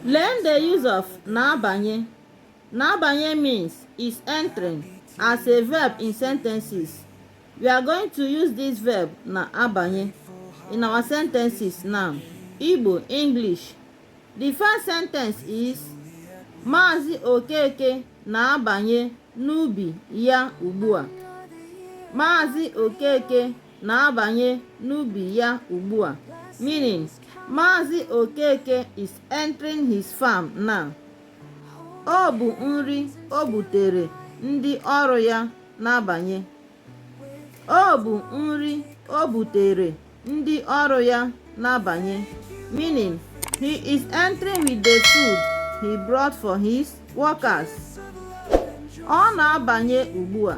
Learn the use of na-abanye. Na-abanye means is entering as a verb in sentences. We are going to use this verb na-abanye in our sentences now. Igbo, English. The first sentence is Maazị Okeke na-abanye n'ubi ya ugbu a. Maazị Okeke na-abanye n'ubi ya ugbu a meaning Maazị Okeke is entering his farm now. Ọ bụ nri o butere ndị ọrụ ya na-abanye. Ọ bụ nri o butere ndị ọrụ ya na-abanye meaning he is entering with the food he brought for his workers. Ọ na-abanye ugbu a.